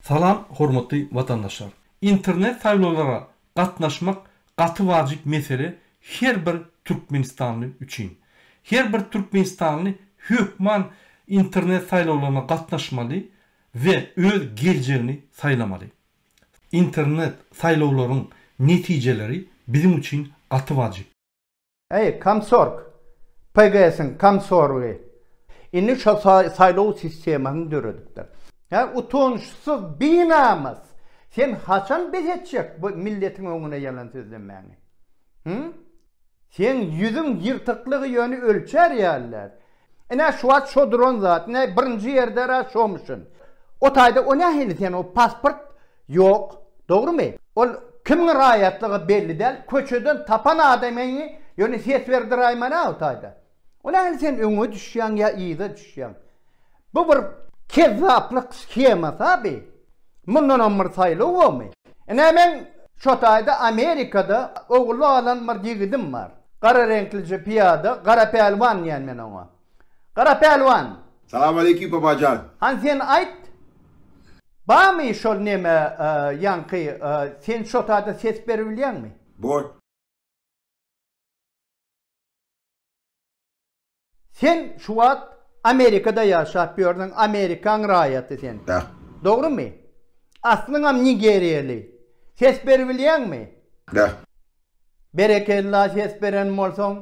Salam hormatly watandaşlar. Internet saýlawlara gatnaşmak gaty wajyp mesele her bir türkmenistanly üçin. Her bir türkmenistanly hökman internet saýlawlaryna gatnaşmaly we öz geljegini saýlamaly. Internet saýlawlaryň netijeleri biziň üçin gaty wajyp. Eý, komsorg! PGS-iň komsorgy! Indi şo saýlaw sistemasyny döredipdir. Hä, utançsyz, binamys! Sen haçan bes etjek bu milletiň öňüne ýalan sözlemäni? Hü? Seň ýüzüň ýyrtyklygy ýöne ölçer ýaly däl. Ine şu wagt şo duran zat, ine birinji ýerde-ra şomuşyn. O taýda o nähili sen o pasport ýok, dogrymy? Ol kimiň raýatlygy belli däl, köçeden tapan adamyňy ýöne ses berdirayman-a o taýda. O nähili sen öňe düşýäň ýa yza düşýäň? Bu bir kezzaplyk shemasy-a bi. Mundanam bir saýlaw bormy? Ine meň şo taýda Amerikada ogullyk alan bir ýigidim bar. Gara reňklije pyýada, Gara Pälwan diýän men oňa. Gara Pälwan! Salawmaleýkim Babajan! Hany sen aýt, barmy şol neme ýaňky, sen şo taýda ses beribilýäňmi? Bor. Sen şu wagt Amerikada ýaşap ýörsiň, Amerikaň raýaty sen. Dak. Dogrymy? Aslyňam nigeriýaly. Ses beribilýäňmi? Dak. Berekella ses beren bolsaň.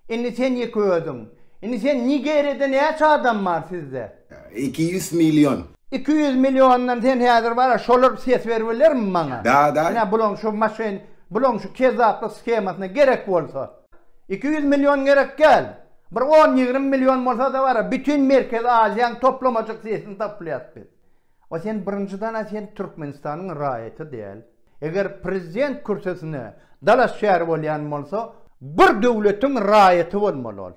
Indi sen ýeke özüň. Indi sen Nigeriýada näçe adam bar sizde? Iki ýüz million. Iki ýüz milliondan sen häzir bara şolar ses beribilermi maňa? Da, da. Ine bulaň şu maşyn, bulaň şu kezzaplyk shemasyna gerek bolsa. Iki ýüz million gerek gel. Bir on ýigrimi million bolsada bara bütin merkezi aziýaň toplamajyk sesini tapylyas biz. A sen birinjiden a sen türkmenistanyň raýaty däl. Eger prezident kürsesine dalaşgär bolýan bolsa bir döwletiň raýaty bolmaly ol.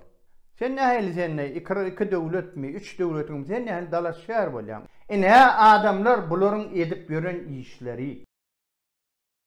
Sen nähili sende iki iki döwletmi üç döwletiňmi sen nähili dalaşgär bolýaň. Ine adamlar bularyň edip ýören işleri.